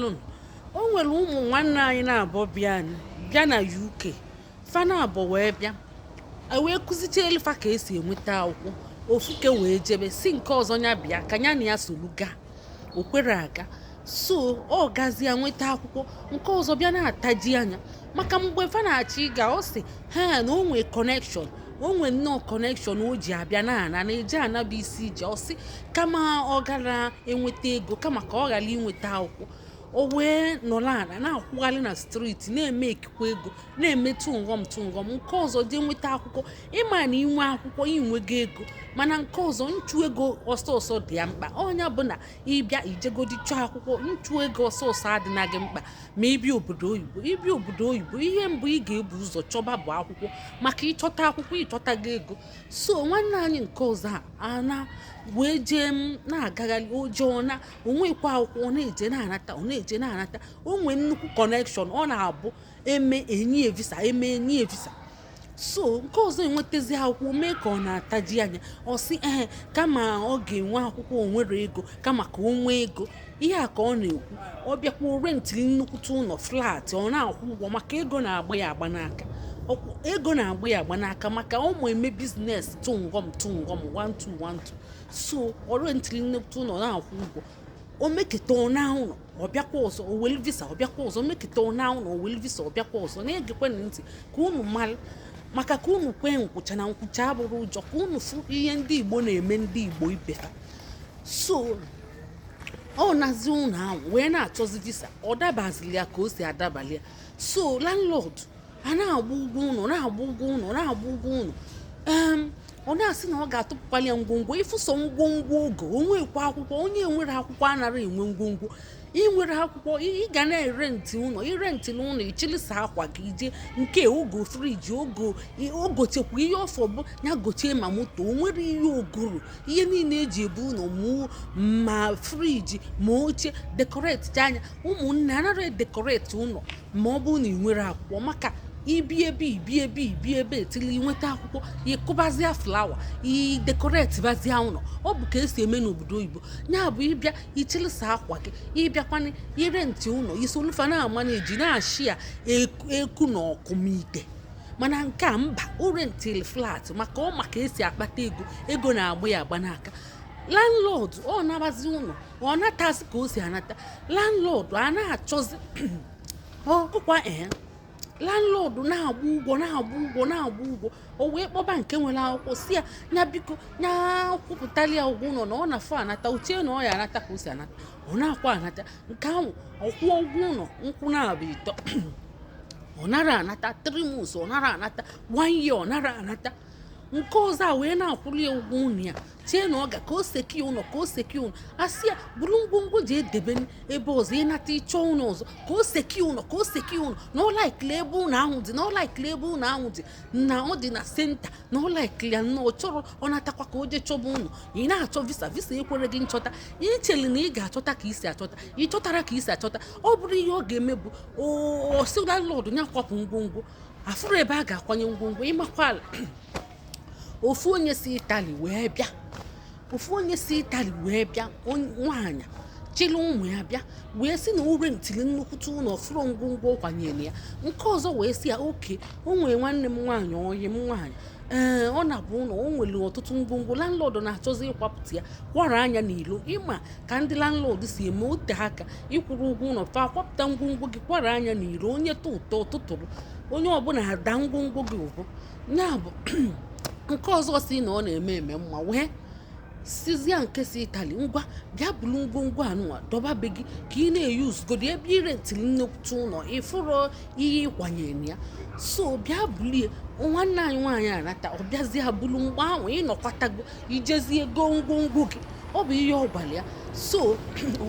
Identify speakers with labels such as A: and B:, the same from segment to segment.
A: daalụ o nwere ụmụ nwanne anyị naabọ bịa bịa na UK fa naabọ wee bịa e wee kụzichaelu fa ka esi enweta akwụkwọ ofuke wee jebe sị nke ọzọ ya bịa ka ya na ya solu gaa o kwere aga so ọ gazie nweta akwụkwọ nke ọzọ bịa na-ataji anya maka mgbe fa na-achọ ịga ọ sị ha na o nwee connection o nwee nnọọ connection o ji abịa na-ana na eje ana bụ isi ije ọ sị kama ọ ghara inweta ego kama ka ọ ghara inweta akwụkwọ o wee nọrọ ala na-akwụgharị na street na-emekikwa ego na-eme tụngọm tụngọm nke ọzọ jee nweta akwụkwọ ị ma na i nwee akwụkwọ i nwego ego mana nke ọzọ nchụ ego ọsọ ọsọ dị ya mkpa ọ nya bụ na ị bịa i jegodi chọọ akwụkwọ nchụ ego ọsọ ọsọ adịna gị mkpa ma ị bịa obodo oyibo ị bịa obodo oyibo ihe mbụ ị ga-ebu ụzọ chọba bụ akwụkwọ maka ị chọta akwụkwọ ị chọtago ego so nwanne anyị nke ọzọ a na wee jee m na-agagharị o jee ọ naa o nwekwa akwụkwọ ọ na-eje na-anata ọ na-eje na-anata o nwee nnukwu connection ọ na-abụ e mee e nye ya visa e mee e nye ya visa so nke ọzọ enwetazi akwụkwọ mee ka ọ na-ataji anya ọ sị ee kama ọ ga-enwe akwụkwọ o nwere ego kama ka o nwee ego ihe a ka ọ na-ekwu ọ bịakwuo rentịlị nnukwute ụnọ flat ọ na-akwụ ụgwọ maka ego na-agba ya agba n'aka ego na-agba ya agba n'aka maka ọ ma eme business tụngọm tụngọm 1212 so ọ rentịlị nnukwute ụnọ na-akwụ ụgwọ o meketa ọ naa ụnọ ọ bịakwa ọzọ o welu visa ọ bịakwa ọzọ o meketa ọ naa ụnọ o welu visa ọ bịakwa ọzọ na-egekwenụ ntị ka unu malụ maka ka unu kwee nkwụcha na nkwụcha abụrọ ụjọ ka unu fụ ihe ndị igbo na-eme ndị igbo ibe ha so ọ nazi ụnọ ahụ wee na-achọzi visa ọ dabazili ya ka o si adabali ya so landlord a na-agba ụgwọ ụnọ na-agba ụgwọ ụnọ na-agba ụgwọ ụnọ ọ na-asị na ọ ga-atụpụkwali ya ngwongwo ị fụ sọ ngwongwo o go o nwekwa akwụkwọ onye nwere akwụkwọ anara enwe ngwongwo ị nwere akwụkwọ ị gana irenti ụnọ i rentina ụnọ ị chịlị sọ akwa gị i jee nke a o go fridge o go o gochekwa ihe ọ fọ bụ ya gochie ma moto o nwere ihe o goro ihe niile eji ebu ụnọ ma fridge ma oche decoratie nya ụmụnne anara edecorate ụnọ ma ọ bụ na ị nwere akwụkwọ maka ibi ebe ibi ebe ibi ebe till i nweta akwụkwọ ị kụbazia flower i decoratebazia ụnọ ọ bụ ka esi eme n'obodo oyibo ya bụ ị bịa ị chịlị sọ akwa gị ị bịakwana irenti ụnọ i solu fa na-amanage na-eshare eku na ọkụ ma ite mana nke a mba ọ rentịlị flat maka ọ ma ka esi akpata ego ego na-agba ya agba n'aka landlord ọ na-agbazi ụnọ ọ natasị ka o si anata landlord a na-achọzi ọkụkwa ee landlord na-agba ụgwọ na-agba ụgwọ na-agba ụgwọ o wee kpọba nke nwere akwụkwọ sị ya nya biko nya kwụpụtali ya ụgwọ ụlọ na ọ na-afọ anata o chee na ọ ya anata ka o si anata ọ na-akwa anata nke ahụ ọ kwụọ ụgwọ ụlọ nkwụ naabọ ịtọ ọ nara anata three months ọ nara anata one year ọ nara anata nke ọzọ a wee na-akwụli ya ụgwọ ụnọ ya chee na ọ ga ka o secure ụlọ ka o secure ụlọ a sị ya buru ngwongwo jee debe ebe ọzọ ị nata ị chọọ ụlọ ọzọ ka o secure ụlọ ka o secure ụlọ na ọ laikili ebe ụlọ ahụ dị na ọ laikili ebe ụlọ ahụ dị na ọ dị na centre na ọ laikili ya na ọ chọrọ ọ natakwa ka o jee chọba ụlọ ị na-achọ visa visa ekwerọ gị nchọta i cheli na ị ga-achọta ka i si achọta ị chọtarọ ka i si achọta ọ bụrụ ihe ọ ga-eme bụ ọ sị landlord ya kwapụ ngwongwo a fụrọ ebe a ga-akwanye ngwongwo ị makwala ofu onye si italy wee bịa ofu onye si italy wee bịa nwaanyị chịrị ụmụ ya bịa wee sị na o rentili nnukwute ụlọ fụrọ ngwongwo kwanyere ya nke ọzọ wee sị ya okay o nwere nwanne m nwaanyị ọyị m nwaanyị ee ọ naba ụlọ o nwere ọtụtụ ngwongwo landlord na-achọzi ịkwapụta ya kwara anya n'ilo ị ma ka ndị landlord si eme o tee aka ị kwụrọ ụgwọ ụlọ fa kwapụta ngwongwo gị kwara anya n'ilo onye tụ ụtọ tụtụrụ onye ọbụla ada ngwongwo gị ụbụ ya bụ nke ọzọ sị na ọ na-eme eme mma wee sịzịa nke si italy ngwa bịa bulu ngwongwo anụnwa dọba be gị ka ị na-eyuzugodi ebe i rentili nnukwute ụlọ ị fụrọ ihe ị kwanyere ya so bịa bulie nwanne anyị nwaanyị anata ọ bịazie bulu mgbe ahụ ị nọkwatago i jezie goo ngwongwo gị ọ bụ ihe ọ gwara ya so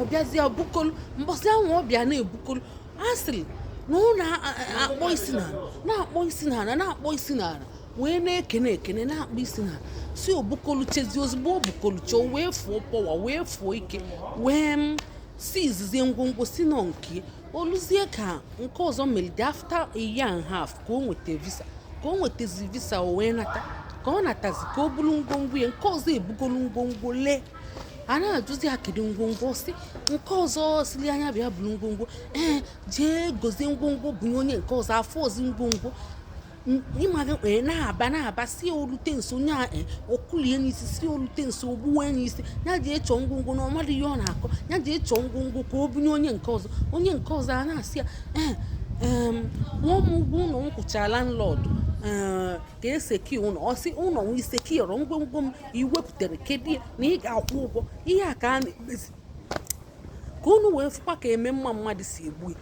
A: ọ bịazie bukolu mbọsị ahụ ọ bịa na-ebukolu a sịrị na ọ na-akpọ isi n'ala na-akpọ isi n'ala na-akpọ isi n'ala wee na-ekene ekene na-akpọ isi n'ala si o bukoluchazie ozugbo o bukolucha o wee fuo power wee fuo ike wee mm, siizizie ngwongwo sị na ọ nke ya o luzie ka nke ọzọ melide after a year and half ka o nweta visa ka o nwetazi visa o wee nata ka ọ natazi ka o buru ngwongwo ya nke ọzọ ebugolu ngwongwo lee a na-ajụzi ya kedu ngwongwo sị nke ọzọ sịlị nya bịa bulu ngwongwo ee jee gozie ngwongwo bunye nke ọzọ afụrọzi ngwongwo ịmaghị wee na-aba na-aba sị o lute nso onye a e, ọ kụlie n'isi sị o lute nso o gbuwe n'isi ya jee chọọ ngwongwo na ọ marọ ihe ọ na-akọ ya jee chọọ ngwongwo ka o bunye onye nke ọzọ onye nke ọzọ a na-asị ya ee nwa m ụgwọ ụlọ m kwụchara landlord ka e secure ụlọ ọ sị ụlọ m i secure-rọ ngwongwo m iwepụtara kedu na ị ga-akwụ ụgwọ ihe a ka a na-emezi ka unu wee fụkwa ka eme mma mmadụ si egbu ya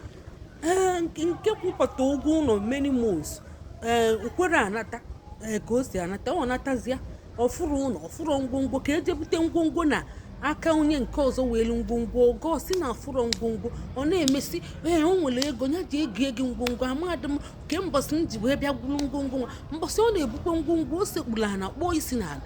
A: ee nke kwụpụta ụgwọ ụlọ many months ee o kwere anata ee ka o si anata ọ natazia ọ fụrụ ụlọ ọ fụrụ ngwongwo ka e je bute ngwongwo na aka onye nke ọzọ nwelu ngwongwo ogo si na afụrọ ngwongwo ọ na-emesi ee o nwere ego ya ji ego ego ngwongwo amadị m ke mbọsị m ji wee bịa gwuru ngwongwo nwa mbọsị ọ na-ebukwa ngwongwo o sekpuru ala kpọọ isi n'ala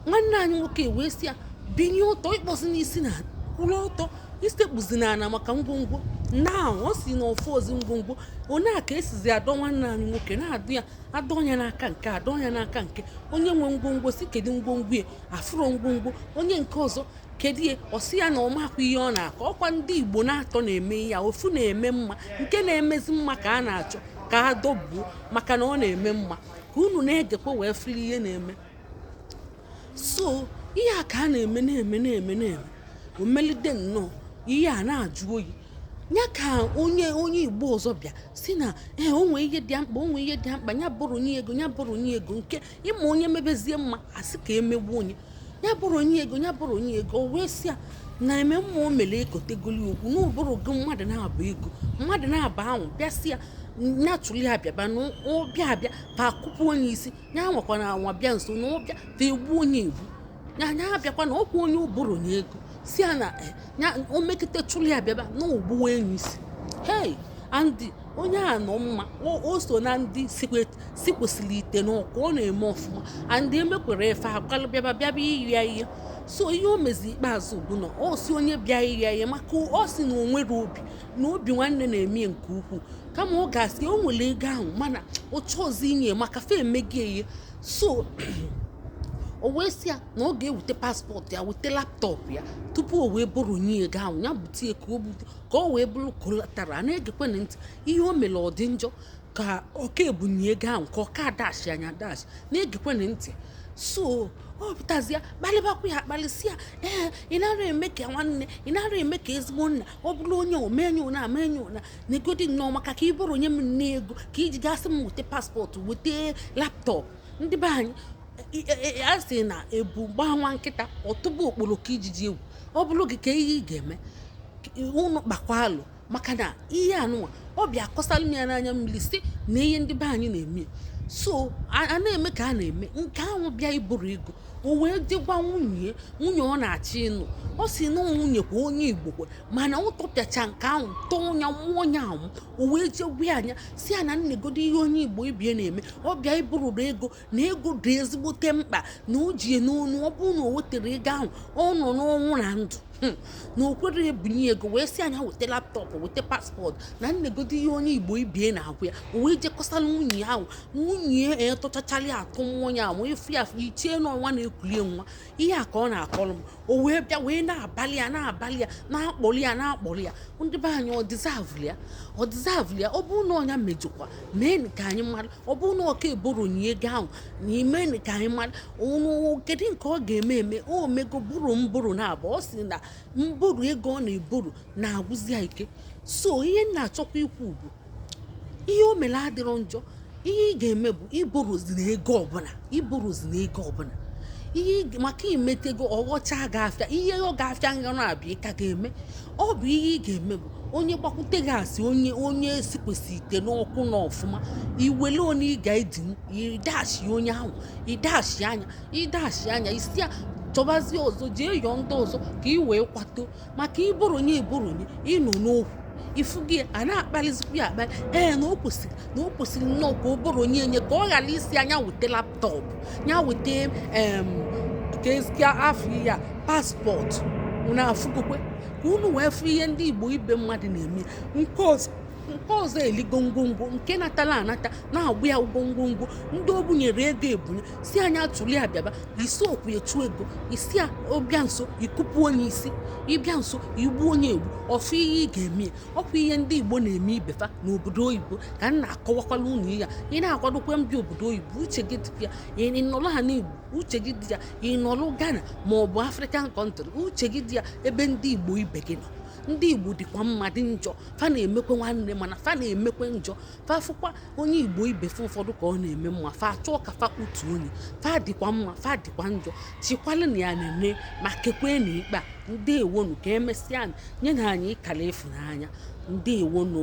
A: nwanne anyị nwoke wee si ya binye ọtọ akpọzina isi n'ala kwụrụ ọtọ esekpuzina ala maka ngwongwo na ọ si na ọ fụrọzi ngwongwo onye a ka e sizi adọ nwanne anyị nwoke na-adọ ya adọ ya n'aka nke adọ ya n'aka nke onye nwe ngwongwo si kedu ngwongwo ya afụrọ ngwongwo onye nke ọzọ kedu ihe ọ sị ya na ọ makwa ihe ọ na-akọ ọkwa ndị igbo n'atọ na-eme ya ofu na-eme mma nke na-emezi mma ka a na-achọ ka a dọbuo maka na ọ na-eme mma ka unu na-egekwa wee fụlụ ihe na-eme so ihe a ka a na-eme na-eme na-eme na-eme o melide nnọọ ihe a na-ajụ oyi ya ka onye onye igbo ọzọ bịa si na ee eh, o nwe ihe dị mkpa o nwe ihe dị mkpa ya buru nye ego ya buru nye ego nke ị ma onye mebezie mma a sị ka e megbuo onye ya buru nye ego ya buru nye ego o wee sị ya na eme mma o mere ekotegoli okwu na o burugo mmadụ naabọ ego mmadụ naabọ ahụ bịa sị ya nya tụlia bịaba na ọ bịa abịa fa akụpụ onye isi ya anwakwana anwa bịa nso na ọ bịa fa egbuo onye egbu ya ya abịakwana ọkwa onye o buru nye ego si ya na eh, ya o mekịta tụlia bịaba na o gbuwa enyi isi hey Andy onye a nọ mma o so na ndị si kwesịrị ite n'ọkụ ọ na-eme ọfụma andị emekwere efe akwalụ bịaba bịaba ịyọ ya ihe so ihe o mezi ikpeazụ bụ na ọ si onye bịa ịyọ ya ihe maka ọ si na o nwere obi na obi nwanne na-eme nke ukwuu kama ọ ga-asị o nwere ego ahụ mana ọ chọrọzi inye maka fe emegị ihe so o wee sị ya na ọ ga-eweta passport ya weta laptop ya tupu o wee buru nye ego ahụ ya bute ya ka o bute ka o wee bụrụ collateral na-egekwe na ntị ihe o mere ọ dị njọ ka ọ ka ebunye ego ahụ ka ọ ka adashi nya adashi na-egekwe na ntị so ọ pụtazịa kpalịbakwa ya akpalịsị ya ee ị nara eme ka nwanne ị nara eme ka ezigbo nna ọ bụrụ onye omenye ụna amenye ụna negodi nnọọ maka ka ị buru nye m ego ka i ji ga-asị m weta passport weta laptop ndị be anyị a sị na ebu gbaa nwa nkịta ọ tụba okporoko ijiji egwu ọ bụrụ gị kee ihe ị ga-eme unu kpakwa alụ maka na ihe anụnwa ọ bịa akọsara m ya n'anya mmiri si na ihe ndị be anyị na-eme so a na-eme ka a na-eme nke ahụ bịa iburu ego o wee dịgwa nwunye nwunye ọ na-achọ ịnụ ọ si na nwunye kwa onye igbo kwa mana ọ tọpịacha nke ahụ tọọ ọnya mmụọ onye ahụ o wee jegwe anya si ya na negodo ihe onye igbo ibie na-eme ọ bịa ibururu ego na ego dị ezigbote mkpa na o ji ya n'onu ọ bụrụ na o weterọ ego ahụ ọ nọ n'ọnwụ na ndụ hmm. na o kwere ebunye ego wee sị ya nya weta laptop weta passport na nnegodo ihe onye igbo ibe ya na-agwa ya o wee jee kọsala nwunye ahụ nwunye etụchachara atụ mmụọ ya ma efu ya ichie n'ọnwa na-ekulie nwa ihe a ka ọ na-akọrọ m o wee bịa wee na-abalị ya na-abalị ya na-akpọli ya na-akpọli ya ndị be anyị ọ deserve-ụlụ ya ọ deserve-ụlụ ya ọ bụrụ na ọ nya mejọkwa meenụ ka anyị mara ọ bụrụ na ọ ka-eborrow nye ego ahụ meenụ ka anyị maranụ kedu nke ọ ga-eme eme o mego borrow mborrow naabọ ọ sị na mborrow ego ọ na-eborrow na-agwụzi ya ike so ihe m na-achọkwa ikwu bụ ihe o mere adịrọ njọ ihe ị ga-eme bụ ị borrowzina ego ọbụla ị borrowzina ego ọbụla ihe maka i metego ọghọcha ga-afịa ihe ọ ga-afịa nganụ abịa ị ka ga-eme ọ bụ ihe ị ga-eme bụ onye gbakwute gị a sị onye onye esi kwesịrị ite n'ọkụ na ọfụma i wele one ị ga-edinwu ị dash onye ahụ ị dash nya ị dash nya ị sị ya chọbazie ọzọ jee yọọ ndị ọzọ ka ị wee kwato maka ị borrow nye ị borrow nye ị nọ n'okwu ifu gị a na-akpalizikwa ya akpali ee na o kwesịrị na o kwesịrị nnọọ ka ọ borrow nye enye ka ọ ghara ịsị ya nya weta laptop ya weta em kezikwa afa ihe a passport unu afụgokwa ka unu wee fụ ihe ndị igbo ibe mmadụ na-eme nke ọzọ nke ọzọ eligo ngwongwo nke natala anata na-agba ya ụgwọ ngwongwo ndị o bunyere ego ebunye si anyị atụli abịaba isi okwu etu ego isi a ọ bịa nso i kupu onye isi ọ bịa nso i gbu onye egbu ọ bụ ihe ị ga-eme ọ kwa ihe ndị igbo na-eme ibe fa n'obodo oyibo ka m na-akọwakwala unu ya ị na-akwadokwa mbịa obodo oyibo uche gị dị ya ị nọrọ ana igbo uche gị dị ya ị nọrọ Ghana ma ọ bụ African country uche gị dị ya ebe ndị igbo ibe gị nọ ndị igbo dịkwa mma dị njọ fa na-emekwe nwanne mana fa na-emekwe njọ fa fụkwa onye igbo ibe fa ụfọdụ ka ọ na-eme mma fa achọọ ka fa kụtu onye fa dịkwa mma fa dịkwa njọ chikwala na ya na-eme ma kekwanụ ikpe a ndewonụ ka emesịanụ nyenụ anyị akara ịfụnanya ndewonụ